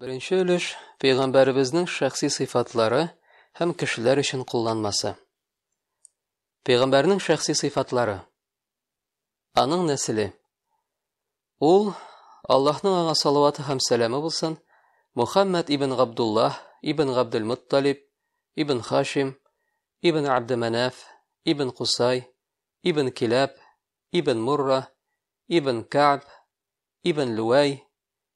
Беренче өлеш пәйгамбәребезнең шәхси сыйфатлары һәм кешеләр өчен кулланмасы. Пәйгамбәрнең шәхси сыйфатлары. Аның нәселе. Ул Аллаһның аңа салаваты һәм сәламе булсын, Мухаммад ибн Габдуллаһ ибн Габдул Мутталиб ибн Хашим ибн Абдуманаф ибн Кусай ибн Килаб ибн Мурра ибн Каб ибн Луай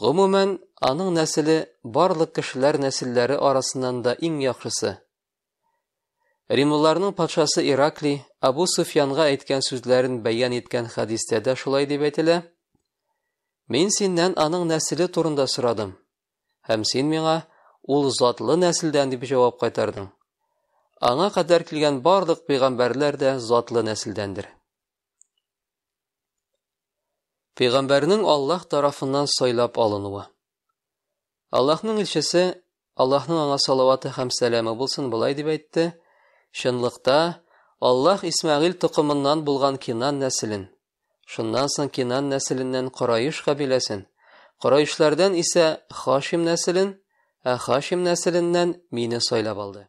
Гомумән, аның нәселе барлык кешеләр нәселләре арасыннан да иң яхшысы. Римлыларның патшасы Ираклий Абу Суфьянга әйткән сүзләрен бәян иткән хәдистә дә шулай дип әйтелә. Мин синнән аның нәселе турында сорадым, һәм син миңа ул затлы нәселдән дип җавап кайтардың. Аңа кадәр килгән барлык пәйгамбәрләр дә затлы нәселдәндер. Пәйгамбәрнең Аллаһ тарафыннан сайлап алынуы. Аллаһның илчесе, Аллаһның аңа салаваты һәм сәламе булсын, былай дип әйтте: "Чынлыкта Аллаһ Исмәгыйль токымыннан булган Кинан нәселен, шуннан соң Кинан нәселеннән Кораиш кабиләсен, Кораишләрдән исә Хашим нәселен, ә Хашим нәселеннән мине сайлап алды."